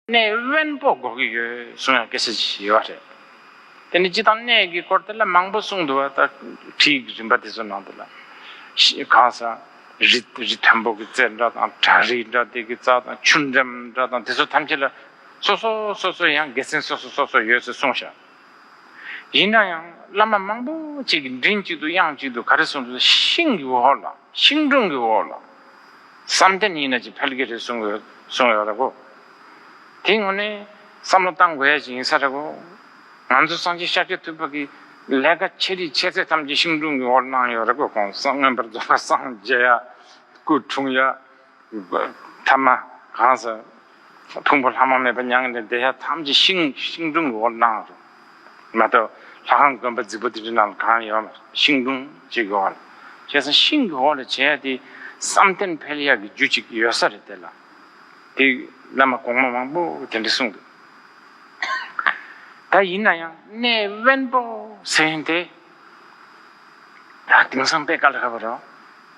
གནས་དབེན་པོ་དགོས་ཀྱི་ཡོད་གསུང་ཡང་སྐད་ཆ་བྱས་བ་རེད། དེ་ནས་ཅི་དང་གནས་ཀྱི་སྐོར་དེ་ལ་མང་པོ་གསུང་འདུག་བ་ལྟར་བྲིས་ཀྱི་རིམ་པ་དེ་ཚོ་ནང་དུ་ལ། གང་ས། རི་རི་དན་པོ་གྱི་རྩེ་འདྲ་དང་བྲག་རི་འདྲ་དེ་གི་རྩ་དང་ཆུ་འགྲམ་འདྲ་དང་དེ་ཚོ་ཐམས་ཅད་ལ། སོ་སོ་སོ་སོ་ཡང་དགེ་མཚན་སོ་སོ་སོ་སོ་ཡོད་ཚོད་གསུང་བཞག། ཡིན་ན་ཡང་བླ་མ་མང་པོ་ཅིག་གིས་མགྲིན་གཅིག་ཏུ་དབྱངས་གཅིག་ཏུ་ག་རེ་གསུངས་ཀྱང་ཤིང་གི་འོག་ལ་ཤིང་སྒྲུང་གི་འོག་ལ་བསམ་གཏན་ཡིན་ན་ཅི་ཕལ་གྱི་རེད་གསུངས་ཡོད་རེད་གོ། དེའི་ངོས་ནས་བསམ་བློ་གཏང་དགོས་ཡ་ཅིག་ཡིན་ས་རེད་གོ། ང་ཚོ་སངས་རྒྱས་ཤཱཀྱ་ཐུབ་པ་གིས་ལས་ཀ་ཆེ་རིགས་ཆེ་ཚད་ཐམས་ཅད་ཤིང་སྒྲུང་གི་འོག་ལ་གནང་ཡོད་རེད་གོ། གོང་ས་སྔོན་པོར་རྫོགས་པ་སངས་རྒྱས་ཡ། སྐུ་འཁྲུངས་ཡ། ཐ་མ་གང་ཟག་ཕུང་པོ་ལྷག་མ་མེད་པ་མྱང་ནས་བདེ་གཤེགས་ཐམས་ཅད་ཤིང་སྒྲུང་གི་འོག་ཏུ་སྣང་བར་རིག། མ་གཏོགས་ལྷ་ཁང་དགོན་པ་རྫིག་པོ་དེ་འདྲའི་ནང་ལ་གང་ཡོད་ན་ཤིང་སྒྲུང་གཅིག་གི་འོག་ལ། ཁྱེད་ཚང་ཤིང་གི་འོག་ལ་བྱས་ཡ་དེ་བསམ་གཏན་འཕེལ་ཡག་གི་རྒྱུ་གཅིག་ཡོད་ས་རེད་དེ་ལ། དེ་བླ་མ་གོང་མ་མང་པོ་དེ་འདྲས་གསུངས་འདུག་ད་ཡིན་ན་ཡང་གནས་དབེན་པོ་ཟེར་བཞིན་དེ། ད་དེང་སང་དཔེ་ག་ལ་ཧ་བ་རོགས།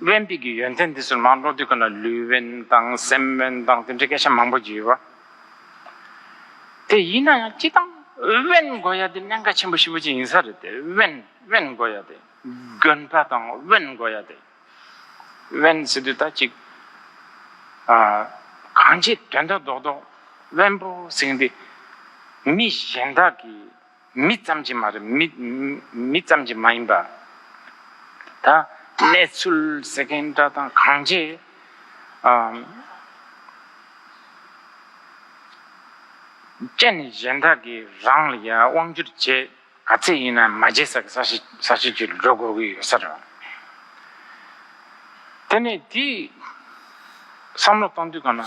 དབེན་པིག་གི་ཡོན་ཏན་འདི་ཚོར་མང་ཀློག་དུས་ཁོ་ན་ལུས་དབེན་དང་སེམས་དབེན་དང་དེ་འདྲའི་སྐད་ཆ་མང་པོ་བརྗོད་ཡོད། དེ་ཡིན་ན་ཡང་སྤྱི་དང། དབེན་དགོས་ཡ་དེ་གནད་འགག་ཆེན་པོ་ཞིག་པོ་ཅིག་ཡིན་ས་རེད་དེ། དབེན་དབེན་དགོས་ཡ་དེ། དགོན་པ་དང་དབེན་དགོས་ཡ་དེ། དབེན་ཟེར་དུས་ད་ཅིག། གང་ཅིའི་དོན་དོན་རྡོག་རྡོག་དབེན་པོ་ཟེར་གི་འདུག་མི་གཞན་དག་གིས། མི་ཙམ་གྱིས་མ་རེད། མི་ཙམ་གྱིས་མ་ཡིན་པ། ད་གནས་ཚུལ་ཟེར་མཁན་འདྲ་དང་གང་རྗེས། སྤྱན་ནས་གཞན་དག་གིས་རང་ལ་ཡང་དབང་བསྒྱུར་བྱེད་ག་ཚད་ཡིན་ན་མ་བརྗེད་ས་གིས་ས་ཞིག་གིས་འགྲོ་དགོས་ཀྱི་ཡོད་ས་རེད། དེ་ནས་དེའི་བསམ་བློ་གཏོང་དུས་གང་ན།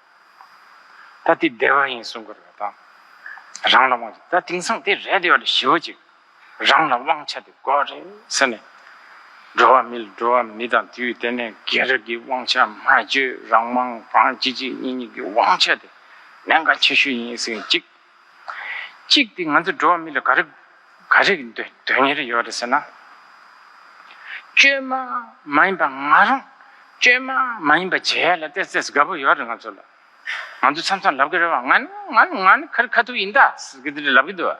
ད་དེ་བདེ་བ་ཡིན་གསུང་གི་རེད་དམ། རང་ལ་དབང་ཆ་ད་དེང་སང་དེ་རེད་བདེ་བ་ལ་ཞི་བ་ཅིག་རང་ལ་དབང་ཆ་དེ་དགོས་རེད་ཟེར་ནས། འགྲོ་བ་མི་ལ་འགྲོ་བ་མི་དང་དུས་དེ་ནས་རྒན་རབས་ཀྱི་དབང་ཆ་སྨྲ་བརྗོད་རང་དབང་གང་གཅིག་གཅིག་གཉིས་གཉིས་ཀྱི་དབང་ཆ་དེ་གནད་འགག་ཆེ་ཤོས་ཡིན་ཟེར་གཅིག། གཅིག་དེ་ང་ཚོ་འགྲོ་བ་མི་ལ་ག་རེ་ག་རེ་དོན་གཉེར་ཡོད་རེད་ཟེར་ན། བཅོས་མ་མ་ཡིན་པ་ང་རང་བཅོས་མ་མ་ཡིན་པ་བྱས་ཡ་ལ་བལྟས་བལྟས་ཟེར་དགའ་པོ་ཡོད་རེད་ང་ཚོ་ལ། ང་ཚོ་མཚམས་མཚམས་ལབ་ཀི་རེད་བ་ང་ནི་ང་ནི་ང་ནི་ཁ་རི་ཁ་ཐུག་ཡིན་ད་ཟེར་གི་དེ་རེད་ལབ་ཀི་འདུག་བ།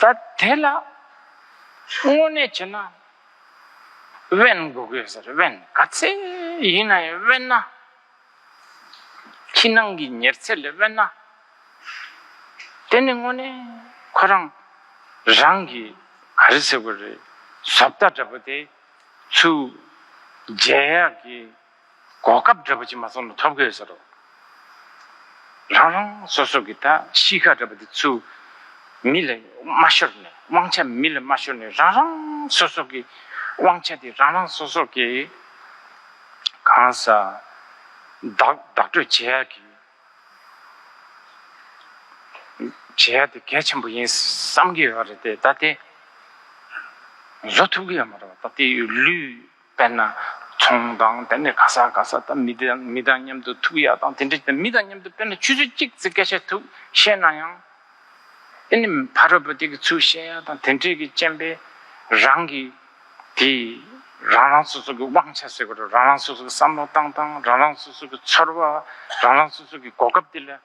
ད་དེ་ལ་དངོས་གནས་བྱས་ན་དབེན་དགོས་གི་ཟེར་དབེན་ག་ཚད་ཡིན་ན་ཡང་དབེན་ན་ཕྱི་ནང་གི་ཉེར་འཚེ་ལས་དབེན་ན་དེ་ནི་དངོས་གནས་ཁོ་རང་རང་གི་ག་རེ་ཟེར་དགོས་རེད་ཟོབ་རྟ་འདྲ་པོ་དེ་ཚུར་རྒྱལ་ཡག་གི་གོ་སྐབས་འདྲ་པོ་ཅིག་མ་སོང་ན་ཐོབ་གི་ཡོད་ས་རོ། རང་རང་སོ་སོ་གི་ད་གཤིས་ཀ་འདྲ་པོ་དེ་ཚུལ་མི་ལ་མ་ཤོར་ནས་དབང་ཆ་མི་ལ་མ་ཤོར་ནས་རང་རང་སོ་སོ་གི་དབང་ཆ་དེ་རང་རང་སོ་སོ་གི་གང་ས་བདག་བདག་སྤྲོད་བྱེད་ཡ་གི་བྱེད་ཡ་དེ་གལ་ཆེན་པོ་ཡིན་བསམ་གི་ཡོད་རེད་དེ་ད་དེ་བཟོ་ཐུབ་གི་ཡོད་མ་རེད་བ་ད་དེ་ལུས། དཔེར་ན། ཚོང་དང་དེ་ནས་ག་ས་ག་ས་དང་མི་དེ་མི་དང་མཉམ་དུ་ཐུག་ཡག་དང་དེ་འདྲ་དེ་མི་དང་མཉམ་དུ་དཔེར་ན་ཆུ་ཚོད་གཅིག་ཚེ་སྐད་ཆ་ཐུག་བཤད་ན་ཡང། དེ་ནི་ཕ་རོལ་པོ་དེ་གི་ཚུལ་བཤད་ཡག་དང་དེ་འདྲས་ཀྱི་སྤྱན་པས་རང་གི་དེ་རང་རང་སོ་སོ་གི་དབང་ཆ་ཟེར་བ་རང་རང་སོ་སོ་གི་བསམ་བློ་བཏང་སྟངས་རང་རང་སོ་སོ་གི་ཚོར་བ་རང་རང་སོ་སོ་གི་གོ་སྐབས་དེ་ལ།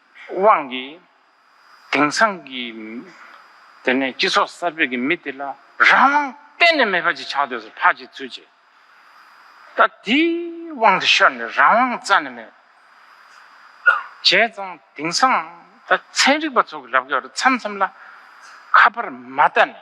དབང་གིས། དེང་སང་གི། དེ་ནས་སྤྱི་ཚོགས་གསར་པའི་གི་མི་དེ་ལ་རང་དབང་གཏན་ནས་མེད་པ་ཅིག་ཆགས་སྡོད་སོ་ཕག་གི་ཚུལ་གྱིས། ད་དེའི་དབང་དུ་ཤོར་ནས་རང་དབང་རྩ་ནས་མེད། བྱས་ཙང་དེང་སང་ད་ཚན་རིག་པ་ཚོ་གི་ལབ་གི་བར་མཚམས་མཚམས་ལ། ཁ་པར་མ་ལྟ་ནས།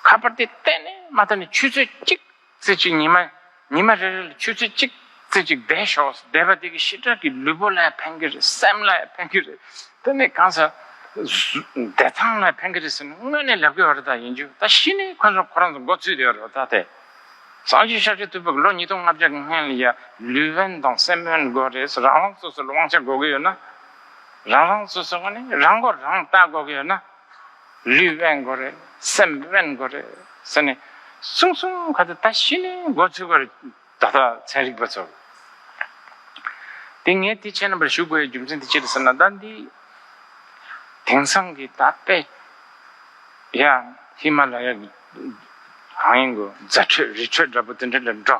ཁ་པར་དེ་གཏན་ནས་མ་ལྟ་ནས་ཆུ་ཚོད་གཅིག། རྩེ་གཅིག་ཉི་མ། ཉི་མ་རེ་རེ་ལ་ཆུ་རྩེ་གཅིག། རྩེ་གཅིག་བཟླས་ཤོག་བཟླས་པ་དེ་གི་ཞི་དྲག་གི་ལུས་པོ་ལ་ཕན་གྱི་རེད་སེམས་ལ་ཕན་གྱི་རེད་དེ་ནས་གང་ཟག་བདེ་ཐང་ལ་ཕན་གྱི་རེད་ཟེར་ནས་དངོས་གནས་ལབ་གི་བ་རེད་ད་ཡིན་རྒྱུ་ད་ཤི་ནས་ཁོ་ཚོ་ཁོ་རང་ཚོ་འགོ་བཙུད་བསྡད་བ་རེད་བ་ད་དེ་སངས་རྒྱས་ཤར་ཕྱོགས་ཐུབ་པ་གི་ལོ་ཉིས་སྟོང་ལྔ་བརྒྱ་གི་སྔན་ལ་ཡ་ལུས་དབེན་དང་སེམས་དབེན་དགོས་རེད་ཟེར་རང་རང་སོ་སོ་ལ་དབང་ཆ་དགོས་གི་ཡོད་ན་རང་རང་སོ་སོ་ག་ནས་རང་མགོ་རང་བཏགས་དགོས་གི་ཡོད་ན། ལུས་དབེན་དགོས་རེད་སེམས་དབེན་དགོས་རེད་ཟེར་ནས་གསུང་གསུང་ག་ཚོད་ད་ཤི་ནས་འགོ་ཚུགས་པར་ད་ལྟ་ཚན་རིག་པ་ཚོ་དེ་ངས་དེ་བྱས་ན་པར་ཞུ་དགོས་ཡ་རྒྱུ་མཚན་དེ་ཅི་རེད་ཟེར་ན་ད་འདི་དེང་སང་གི་ད་དཔེ་ཡ་ཧི་མ་ལ་ཡ་གི་གང་ཡིན་གོ་རྫ་ཁྲོད་རི་ཁྲོད་འདྲ་པོ་དེ་འདྲ་ལ་འགྲོ་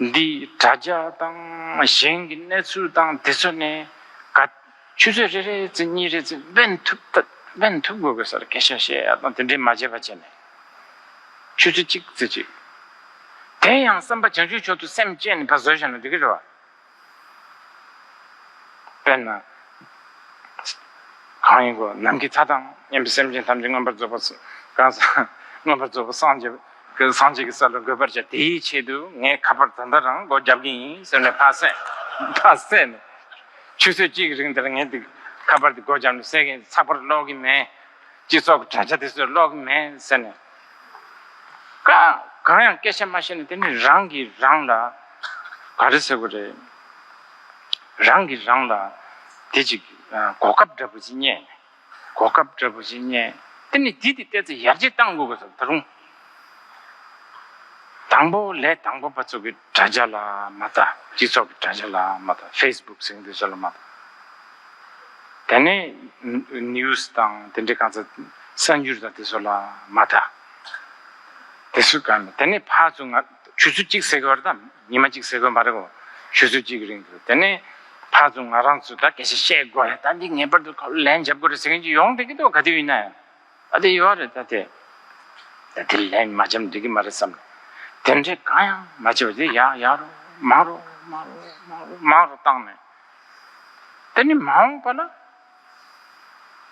འདིས་དྲ་རྒྱ་དང་གཞན་གྱི་གནས་ཚུལ་དང་དེ་ཚོ་ནས་ག་ཆུ་ཚོད་རེ་རེ་ཚེ་གཉིས་རེ་ཚེ་དབེན་ཐུབ་ཐབས་དབེན་ཐུབ་དགོས་དགོས་ས་རེ་སྐད་ཆ་བཤད་ཡ་དང་དེ་འདྲའི་མ་བྱས་པ་བྱས་ནས་ཆུ་ཚོད་གཅིག་ཚེ་གཅིག་དེ་ཡང་བསམ་པ་བྱང་ཆུབ་མཆོག་ཏུ་སེམས་བསྐྱེད་ནས་ཕ་བཟོད་བཞག་ན་འགྲིག་གི་རེད་བ། དཔེར་ན། གང་ཡིན་གོ། ནམ་མཁའི་མཐའ་དང་མཉམ་པའི་སེམས་ཅན་ཐམས་ཅད་མངོན་པར་རྫོགས་པར་མངོན་པར་རྫོགས་པར་སངས་རྒྱས་ཀྱི་ས་ལ་འགོད་པར་བྱ། དེའི་ཆེད་དུ་ངས་ཁ་པར་དེ་འདྲ་རང་སྒོ་བརྒྱབ་ཀྱི་ཡིན་ཟེར་ནས་ཕར་བསད་ནས། ཆུ་ཚོད་གཅིག་གི་རིང་དེར་ངས་དེ་ཁ་པར་དེ་སྒོ་བརྒྱབ་ནས་བསད་མཁན་ཚགས་པར་ཀློག་གི་མེད། སྤྱི་ཚོགས་ཀྱི་དྲ་རྒྱ་དེ་ཚོས་ཀློག་གི་མེད་ཟེར་ནས། གང་ཡང་སྐད་ཆ་མ་བཤད་ན་དེ་ནི་རང་གིས་རང་ལ་ག་རེ་ཟེར་བ་རེད། རང་གིས་རང་ལ་དེ་ཅིག་གོ་སྐབས་འདྲ་པོ་ཅིག་རྙེད། གོ་སྐབས་འདྲ་པོ་ཅིག་རྙེད་དེ་ནི་དེ་དེ་བལྟས་ཚེ་ཡར་རྒྱས་གཏང་དགོས་པ་ཟེར་བ་ད་རུང། དང་པོ་ལས་དང་པོ་པ་ཚོ་གི། དྲ་རྒྱ་ལ་མ་བལྟ། སྤྱི་ཚོགས་ཀྱི་དྲ་རྒྱ་ལ་མ་བལྟ། Facebook ཟེར་གྱི་འདུག་ཟེར་ལ་མ་བལྟ། དེ་ནས News དང་དེ་འདྲའི་གང་ཟག་གསར་འགྱུར་དང་དེ་ཚོ་ལ་མ་བལྟ། དེ་སུས་གང་ལ། དེ་ནས་ཕར་ཚུར་ང་ཆུ་ཚོད་གཅིག་ཟེར་གི་བར་དང་ཉི་མ་གཅིག་ཟེར་གི་བར་གོ། ཆུ་ཚོད་གཅིག་གི་རིང་དུ་དེ་ནས་ཕར་ཚུར་ང་རང་ཚོ་ད་ག་ཞིག་བཤད་དགོས་རེད་ད་འདི་ངེས་པར་དུ་ལན་འཇབ་དགོས་རེད་ཟེར་མཁན་གྱི་ཡོང་སྡད་ཀྱི་འདུག་ག་དུས་ཡིན་ན་ཡང། ཨ་དེ་ཡོད་རེད་ད་དེ། ད་དེ་ལན་མ་འཇམ་འགྲིག་གི་མ་རེད་བསམ། དེ་འདྲའི་གང་ཡང་མ་བྱས་པ་དེ་ཡག་ཡག་རོ་མང་རོ་མང་རོ་མང་རོ་མང་རོ་བཏང་ནས། དེ་ནི་མ་འོངས་པ་ལ།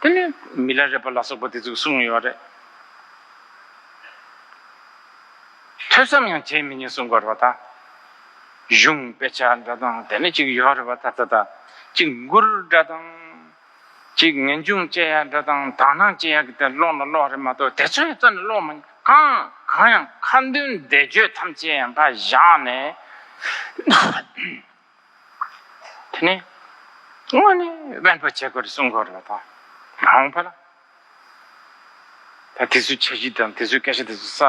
དེ་ནི་མི་ལ་རས་པ་ལ་སོགས་པ་དེ་ཚོས་གསུང་ངེས་པ་རེད། ཐོས་བསམ་ཡང་བྱས་མི་ཉན་གསུང་གི་རེད་བ་ད། གཞུང་དཔེ་ཆ་འདྲ་དང་དེ་ནས་ཅིག་ཡོད་རེད་བ་ད་ད་ད། ཅིག་མགུར་འདྲ་དང། གཅིག་ངེས་འབྱུང་དཔྱད་ཡག་འདི་དང་དག་སྣང་དཔྱད་ཡག་གི་དེ་ཀློག་ན་ཀློག་རེད་མ་གཏོགས་དེ་ཚོའི་རྩ་ནས་ཀློག་མི་གང་གང་ཡང་ཁ་འདོན་བཟླས་བརྗོད་ཐམས་ཅད་ཡང་འགའ་བཞག་ནས་དེ་ནས་དངོས་ནས་དབེན་པ་བྱེད་དགོས་རེད་གསུང་དགོས་རེད་ད་མ་འོངས་པ་ལ་ད་དེ་ཚོའི་འཆར་གཞི་དང་དེ་ཚོའི་སྐད་ཆ་དེ་ཚོ་ས་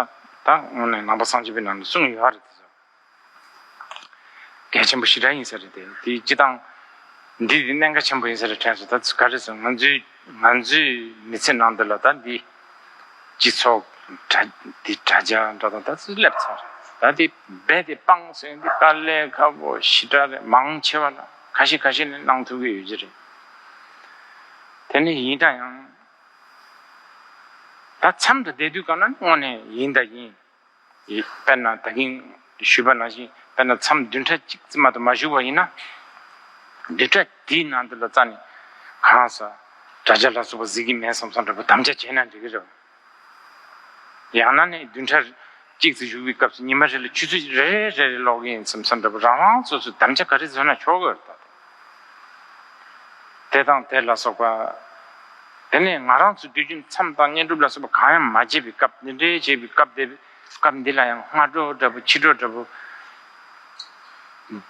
ད་དངོས་ནས་ནང་པ་སངས་རྒྱས་པའི་ནང་ནས་གསུང་ཡོད་རེད་དེ་ཚོ། གལ་ཆེན་པོ་ཞི་དྲག་ཡིན་ས་རེད་དེ་དེ་སྤྱི་སྟངས་འདི་དེ་གནད་འགག་ཆེན་པོ་ཡིན་ས་རེད་དྲན་སོང་ད་ཚོད་ག་རེ་སོང་ང་ཚོའི་ང་ཚོའི་མི་ཚེ་ནང་འདི་ལ་ད་འདི་སྤྱི་ཚོགས་དྲ་འདི་དྲ་རྒྱ་འདྲ་དང་ད་ཚོད་སླེབས་ཚར་ད་འདི་རྦད་དེ་སྤངས་སོང་འདི་དཀའ་ལས་ཁ་བོ་ཞི་དྲག་རེད་མང་ཆེ་བ་ལ་ཁ་ཞེ་ཁ་ཞེ་ནས་གནང་ཐུབ་ཀྱི་ཡོད་ཀྱི་རེད། དེ་ནི་ཡིན་འདྲ་ཡང། ད་འཆམ་དུ་བསྡད་དུས་གང་ན་དངོས་ནས་ཡིན་ད་ཡིན། དཔེར་ན་ད་གིན་བཞུས་པ་ནང་བཞིན་དཔེར་ན་མཚམས་བདུན་ཕྲག་གཅིག་རྩིབ་མ་དུ་མ་བཞུགས་པ་ཡིན་ན། བདུན་ཕྲག་དེའི་ནང་དུ་ལ་རྩ་ནས་གང་ཟག་དགྲ་ཇག་ལ་སོགས་པ་གཟིགས་ཀྱི་མེད་བསམ་བསམ་འདྲ་པོ་དམ་བཅའ་བྱས་ན་འགྲིག་གི་རེད། ཡང་ན་ནི་བདུན་ཕྲག་གཅིག་རྩིབ་བཞུགས་པའི་སྐབས་སུ་ཉི་མ་རེ་ལ་ཆུ་ཚོད་རེ་རེ་རེ་རེ་ལོག་གི་ཡིན་བསམ་བསམ་འདྲ་པོ་རང་རང་སོ་སོས་དམ་བཅའ་ག་རེ་བཟོས་ན་ཆོག་གི་རེད་ད་དུང། དེ་དང་དེ་ལ་སོགས་པ། དེ་ནས་ང་རང་ཚོས་དུས་རྒྱུན་མཚམས་དང་བསྙེན་སྒྲུབ་ལ་སོགས་པ་གང་ཡང་མ་བྱས་པའི་སྐབས་འདི་འདྲའི་བྱས་པའི་སྐབས་དེ་སྐབས་འདི་ལ་ཡང་སྔ་དྲོ་འདྲ་བོ་ཕྱི་དྲོ་འདྲ་བོ།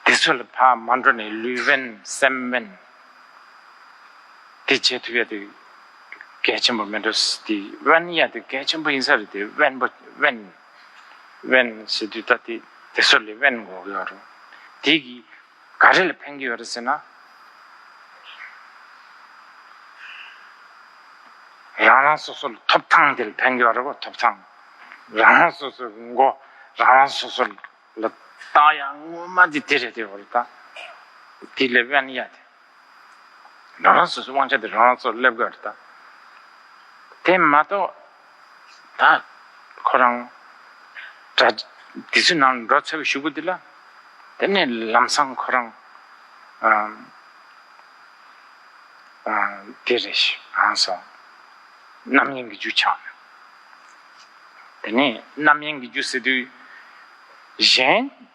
དེ་ཚོ་ལ་ཕ་མ་འགྲོ་ནས་ལུས་དབེན་སེམས་དབེན། དེ་བྱེད་ཐུབ་ཡ་དེ་གལ་ཆེན་པོ་མི་འགྲོ་དེ་དབེན་ཡ་དེ་གལ་ཆེན་པོ་ཡིན་ས་རེད་དེ་དབེན་པོ་དབེན། དབེན་བྱེད་དུས་ད་དེ་དེ་ཚོ་ལས་དབེན་འགོག་ཡོད་རུང་དེ་གི། ག་རེ་ལ་ཕན་གྱི་ཡོད་རེད་ཟེར་ན། རང་རང་སོ་སོ་ལ་ཐོབ་ཐང་དེ་ལ་ཕན་གྱི་ཡོད་རེད་བ་ཐོབ་ཐང། རང་རང་སོ་སོའི་མགོ་རང་རང་སོ་སོ་ལ་བཏགས་ཡ་ངོ་མ་དེ་དེ་རེད་དེ་བ་རེད་ད། དེ་ལས་དབེན་ཡ་དེ། རང་རང་སོ་སོའི་དབང་ཆ་དེ་རང་རང་ཚོར་སླེབས་དགོས་རེད་དཱ། དེ་མ་གཏོགས་ད་ཁོ་རང་དགྲ་དེ་ཚོའི་ནང་ལ་འགྲོ་འཚོལ་བའི་ཞུ་སྒོ་དེ་ལ་དེ་ནས་ལམ་སང་ཁོ་རང་དེ་རེད་ཧང་སང་རྣམ་གཡེང་གི་རྒྱུ་ཆགས་ཡོད། དེ་ནས་རྣམ་གཡེང་གི་རྒྱུ་སེལ་དུས་གཞན།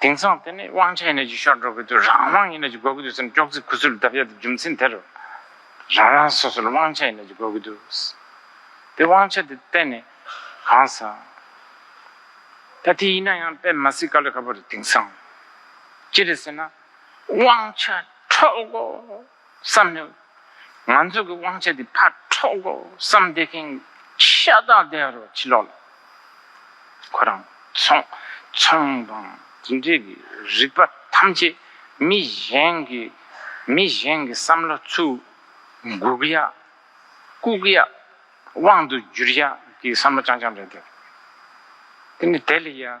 དེང་སང་དེ་ནི་དབང་ཆ་ཡིན་ན་ཅིག་ཤོར་འགྲོ་གི་འདུག་རང་དབང་ཡིན་ན་ཅིག་དགོས་ཀྱི་འདུག་སེམས་ཀྱོག་ཙེ་ཁུ་ཚུར་བརྡབ་ཡ་དེ་རྒྱུ་མཚན་དེ་རེད། རང་རང་སོ་སོར་དབང་ཆ་ཡིན་ན་ཅིག་དགོས་ཀྱི་འདུག། དེ་དབང་ཆ་དེ་གཏན་ནས་གང་སང། ད་དེ་ཡིན་ན་ཡང་དཔེ་མ་སྲིད་དཀའ་ལས་ཁ་པོ་རེད་དེང་སང། ཅི་རེད་ཟེར་ན། དབང་ཆ་འཕྲོག་གོ། བསམ་ནས། ང་ཚོ་གི་དབང་ཆ་དེ་ཕར་འཕྲོག་གོ་བསམ་བསྡད་མཁན་ཤ་སྟག་བསྡད་ཡ་རོགས་ཕྱི་ལོགས་ལ། ཁོ་རང་ཚོང་ཚོང་དང་དེ་འདྲས་ཀྱི་རིག་པ་ཐམས་ཅད་མི་གཞན་གྱི་མི་གཞན་གྱི་བསམ་བློ་ཚུར་འགུག་ཡ། བཀུག་ཡ། དབང་དུ་བསྒྱུར་ཡ་གྱི་བསམ་བློ་རྐྱང་རྐྱང་རེད་དེ། དེ་ནི་དེ་ལས་ཡ།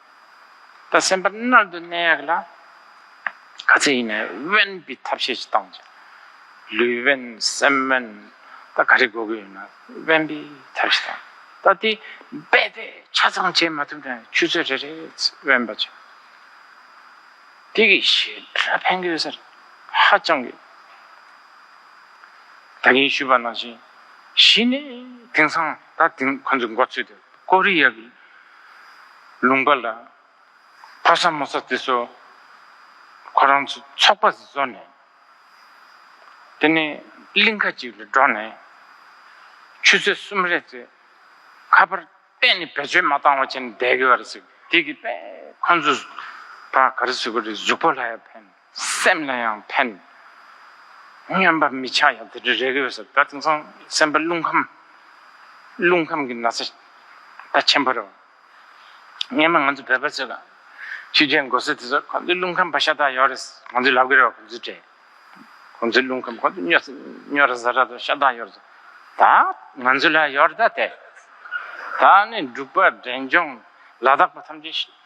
ད་སེམས་པ་རྣལ་དུ་གནས་ཡག་ལ། ག་ཚད་ཡིན་ནའི་དབེན་པའི་ཐབས་ཤེས་ཀྱི་སྟངས་ཀྱིས། ལུས་དབེན་སེམས་དབེན་ད་ག་རེ་དགོས་ཀྱི་ཡོད་ན་དབེན་པའི་ཐབས་ཤེས་དང། ད་དེ་རྦད་དེ་ཆ་ཚང་བྱེད་མ་ཐུབ་ནའི་ཆུ་ཚོད་རེ་རེའི་དབེན་པ་བྱེད། དེ་གི་ཞེ་དྲག་ཕན་གྱི་ཡོད་ས་རེད་ཧ་ཅང་གི། ད་གིན་ཞུས་པ་ནང་བཞིན་གཞི་ནས་དེང་སང། ད་ཐེངས་ཁོ་ཚོས་འགོ་ཚུགས་ཏེ་ཀོ་རི་ཡའི་ལུང་པ་ལ་ཕོ་ས་མོ་ས་དེ་ཚོ་ཁོ་རང་ཚོ་ཚོགས་པ་བཟོས་ནས་དེ་ནས་གླིང་ཁ་ཅིག་ལ་འགྲོ་ནས་ཆུ་ཚོད་གསུམ་རེ་ཚོའི་ཁ་པར་གཏན་ནས་བེད་སྤྱོད་མ་བཏང་བ་བྱས་ནས་བསྡད་དགོས་པ་རེད་ཟེར་གི་དེ་གི་དཔེ་ཁོ་ཚོས་ད་ག་རེ་ཟེར་གོ་རེ་གཟུགས་པོ་ལྷ་ཡར་འཕེན། སེམས་ལ་ཡང་ཕན། སྨྱོན་པ་མི་ཆགས་ཡང་དེ་འདྲ་རེ་དགོས་ཟེར་ད་དེང་སང་སེམས་པ་རླུང་ཁམས། རླུང་ཁམས་ཀྱི་ན་ཚ་ད་ཆེན་པོ་རེད། སྔན་མ་ང་ཚོ་བོད་པ་ཚོས་ལ་ཆུ་རྒྱས་མགོ་སེར་དེ་ཚོ་ཁོང་ཚོའི་རླུང་ཁམས་བ་ཤ་སྟག་ཡོད་རེད་ང་ཚོས་ལབ་གི་རེད་བ་ཁོང་ཚོའི་གྲས། ཁོང་ཚོའི་རླུང་ཁམས་ཁོང་ཚོ་སྨྱོ་སྨྱོ་ར་ཟ་ར་དང་ཤ་སྟག་ཡོད་རེད། ད་ང་ཚོ་ལ་ཡོད་རེད་ད་དེ། ད་ནི་འབྲུག་པ་འབྲས་ལྗོངས་ལ་དྭགས་པ་ཐམས་ཅད།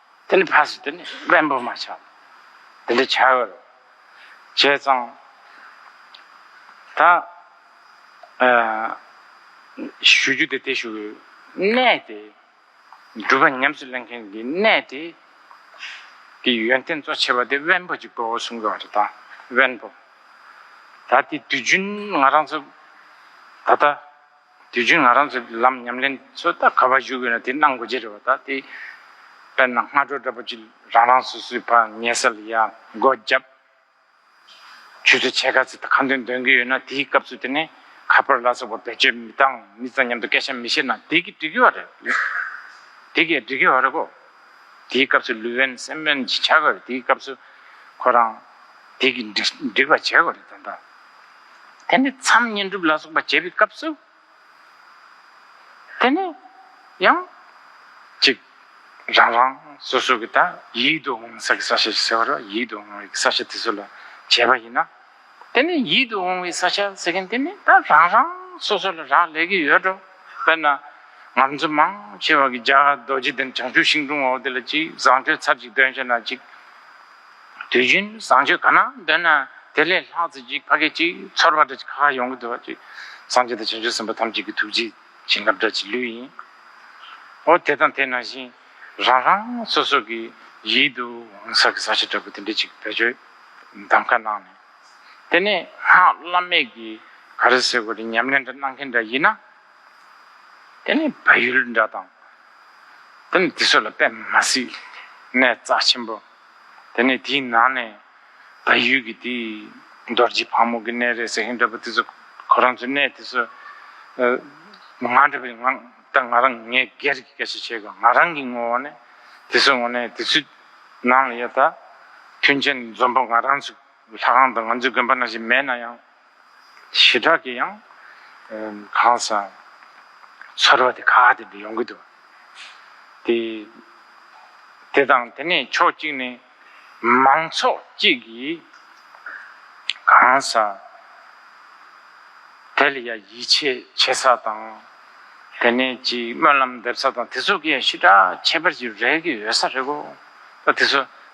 དེ་ནི་ཕ་སི་དེ་ནི་དབེན་པོ་མ་ཆགས་དེ་འདྲ་བྱ་བར་བྱས་ཙང་ད་ཞུ་རྒྱུ་དེ་དེ་ཞུ་གནས་དེ་སྒྲུབ་པ་ཉམས་སུ་ལེན་མཁན་གྱི་གནས་དེ་གི་ཡོན་ཏན་གཙོ་ཆེ་བ་དེ་དབེན་པོ་གཅིག་པོ་གསུང་གི་བ་རེད་ད་དབེན་པོ་ད་དེ་དུས་རྒྱུན་ང་རང་ཚོ་ད་ལྟ། དུས་རྒྱུན་ང་རང་ཚོས་ལམ་ཉམས་ལེན་ཚོད་ལྟ་ག་པར་ཞུགས་ཡོད་ན་དེ་གནང་དགོས་ཀྱི་རེད་བ་ད་དེ་དཔེར་ན་སྔ་དྲོ་འདྲ་པོ་གཅིག་རང་རང་སོ་སོའི་བར་ཉལ་སར་ཡར་མགོ་བརྒྱབ་ཆུ་ཚོད་ཕྱེད་ཀ་ཚོད་ལྟ་གང་འདོད་འདོན་གི་ཡོད་ན་དེའི་སྐབས་ཚོད་དེ་ནས་ཁ་ཕོར་ལ་སོགས་པ་བེད་སྤྱོད་མི་བཏང་མི་ཙང་སྙམ་དུ་སྐད་ཆ་མི་བཤད་ན་དེ་གི་འགྲིག་གི་བ་རེད་དེ་གི་འགྲིག་གི་བ་རེད་གོ་དེའི་སྐབས་ཚོད་ལུས་དབེན་སེམས་དབེན་བྱ་དགོས་རེད་དེའི་སྐབས་ཚོད་ཁོ་རང་དེ་གི་འགྲིག་པ་བྱེད་དགོས་རེད་ད། དེ་ནས་མཚམས་བསྙེན་སྒྲུབ་ལ་སོགས་པ་བྱེད་པའི་སྐབས་སུ། དེ་ནས་ཡང། གཅིག། རང་རང་སོ་སོ་གི་དང་ཡིད་དུ་འོང་ས་གི་ས་ཞེས་ཟེར་བ་ལ་ཡིད་དུ་འོང་བའི་ས་ཞེས་དེ་ཚོ་ལ་བྱས་པ་ཡིན་ན། དེ་ནས་ཡིད་དུ་འོང་བའི་ས་ཞེས་ཟེར་མཁན་དེ་ནི་ད་རང་རང་སོ་སོ་ལ་རག་ལས་ཀྱི་ཡོད་འགྲོ། དཔེར་ན། ང་ཚོ་མང་ཆེ་བ་གི་རྒྱ་གར་རྡོ་རྗེ་གདན་བྱང་ཆུབ་ཤིང་སྒྲུང་འོག་དེ་ལ་གཅིག་བཟང་སྤྱོད་ཚར་གཅིག་དོན་ཆེ་ན་གཅིག། དུས་རྒྱུན་བཟང་སྤྱོད་གང་ན་འདོད་ན་དེ་ལས་ལྷག་རྩེ་གཅིག་ཕ་སྐད་གཅིག་ཚོར་བ་འདྲ་གཅིག་ཁ་ཁ་ཡོང་གི་འདུག་བ་ཅིག་སངས་རྒྱས་དང་བྱང་ཆུབ་སེམས་དཔའ་ཐམས་ཅད་ཀྱི་ཐུགས་རྗེའི་བྱིན་རླབས་འདྲ་གཅིག་ལོས་ཡིན། ཨོ་དེ་དང་དེ་ན་བཞིན་རང་རང་སོ་སོ་གི་ཡིད་དུ་འོང་ས་གི་ས་ཆ་འདྲ་པོ་དེ་འདྲ་གཅིག་བེད་སྤྱོད་གདམ་ག་གནང་ནས་དེ་ནས་སྔགས་བླ་མེད་ཀྱི་ག་རེ་ཟེར་བ་རེ་ཉམས་ལེན་འདྲ་གནང་མཁན་འདྲ་ཡིན་ན། དེ་ནི་བལ་ཡུལ་འདྲ་དང། དེ་ནི་དེ་ཚོ་ལ་དཔེ་མ་སྲིད་ནས་རྩ་ཆེན་པོ། དེ་ནི་དེའི་ནང་ནས་བལ་ཡུལ་གྱི་དེ་རྡོ་རྗེ་ཕག་མོ་གི་གནས་རེད་ཟེར་བཞིན་འདྲ་པོ་དེ་ཚོ་ཁོ་རང་ཚོའི་གནས་དེ་ཚོ། ང་འདྲ་བའི་ང་ད་ང་རང་ངས་སྒེར་གྱི་སྐད་ཆ་བཤད་དགོས་ང་རང་གི་ངོ་བོ་ནས་དེ་ཚོའི་ངོ་ནས་དེ་ཚོའི་ནང་ལ་ཡོད་ད་མཐུན་རྐྱེན་འཛོམས་པོ་ང་རང་ཚོའི་ལྷ་ཁང་དུ་ང་ཚོའི་དགོན་པ་ནང་བཞིན་མེད་ན་ཡང། ཞི་དྲག་གིས་ཡང་གང་ཟག་ཚོར་བ་དེ་ཁ་གཏད་དུ་ཡོང་གི་འདུག་དེ། དེ་དང་དེ་ནས་ཕྱོགས་གཅིག་ནས་མང་ཚོགས་གཅིག་གིས་གང་ཟག་དེ་ལ་ཡང་ཡིད་ཆེས་བྱེད་ས་དང། དེ་ནས་ཅིག་སྨོན་ལམ་འདེབས་ས་དང་དེ་ཚོ་གི་ཡང་ཞི་དྲག་ཁྱད་པར་ཅིག་རེག་གི་ཡོད་ས་རེད་གོ། ད་དེ་ཚོ